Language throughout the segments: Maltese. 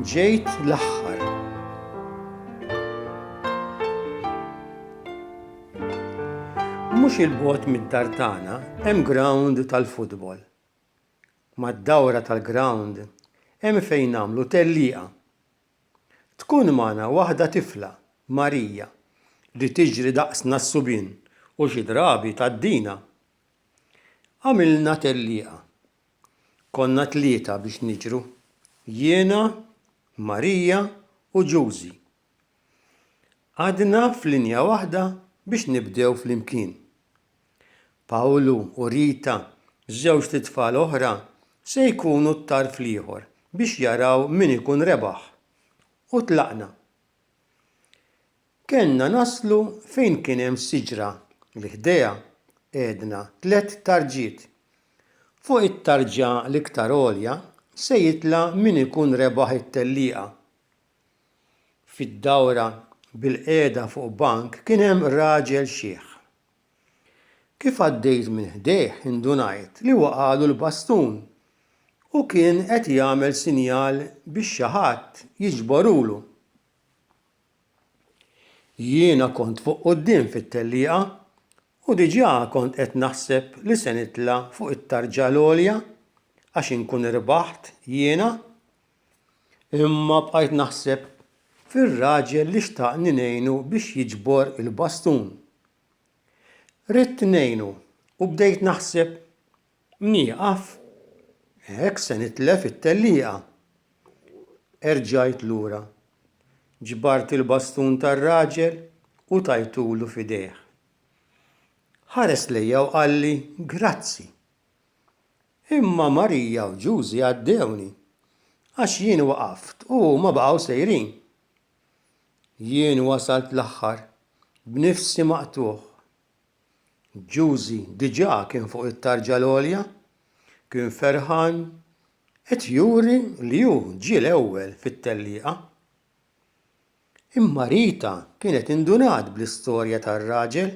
Ġejt l-aħħar. Mhux il-bot mid-dar tagħna hemm ground tal-futbol. Mad-dawra tal-ground hemm fejn nagħmlu tellieqa Tkun magħna waħda tifla, Marija, li tiġri daqsna s-subien u xi drabi tgħaddina. Għamilna tellieqa. Konna tlieta biex niġru, jiena, Marija u Ġużi. Għadna f'linja waħda biex nibdew flimkien. Pawlu u Rita, żewġt itfal oħra, se jkunu t-tarf l-ieħor biex jaraw min ikun rebaħ. U tlaqna. Kellna naslu fejn kien hemm siġra li ħdejha qegħdna tliet tarġiet. Fuq it-tarġa l-iktar għolja se jitla' min ikun rebaħ it-tellieqa. fid-dawra bilqiegħda fuq bank kien hemm raġel xiħ. Kif għaddejt minn ħdejh indunajt li waqagħlu l-bastun u kien qed jagħmel sinjal biex xi ħadd jiġborulu. Jiena kont fuq quddiem fit-tellieqa u diġà kont qed naħseb li se nitla' fuq it-tarġa l-għolja għax inkun irbaħt jiena. Imma bqajt naħseb fir-raġel li xtaqni ngħinu biex jiġbor il-bastun. Ridt ngħinu u bdejt naħseb, Nieqaf? Hekk se nitlef it-tellieqa! Erġajt lura. Ġbart il-bastun tar-raġel u tajtulu f'idejh. Ħares lejja u qalli, Grazzi. Imma Marija u Ġużi għaddewni, għax jien waqaft u huma baqgħu sejrin. Jien wasalt l-aħħar, b'nifsi maqtugħ. Ġużi diġà kien fuq it-tarġa l-għolja, kien ferħan qed juri li hu ġie l-ewwel fit-tellieqa. Imma Rita kienet indunat bl-istorja tar-raġel.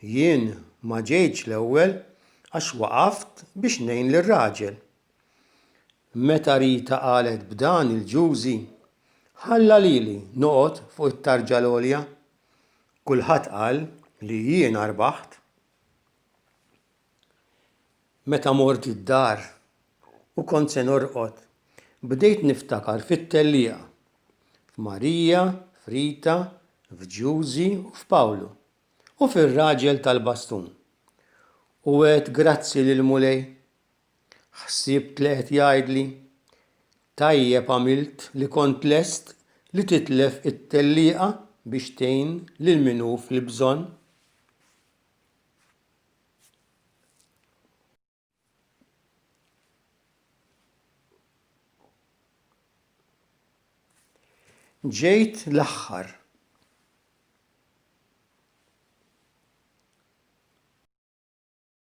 Jien ma ġejtx l-ewwel għax waqaft biex ngħin lir-raġel. Meta Rita qalet b'dan il-ġużi, ħalla lili noqgħod fuq it-tarġa l-għolja. Kulħadd qal li jiena rbaħt. Meta mort id-dar u kont se norqod, bdejt niftakar fit-tellieqa, f'Marija, f'Rita, f'Giusy u f'Pawlu, u fir-raġel tal-bastun. U għedt grazzi lill-Mulej. Ħsibt li qed jgħidli, Tajjeb għamilt li kont lest li titlef it-tellieqa biex tgħin lil min hu fil-bżonn. Ġejt l-aħħar.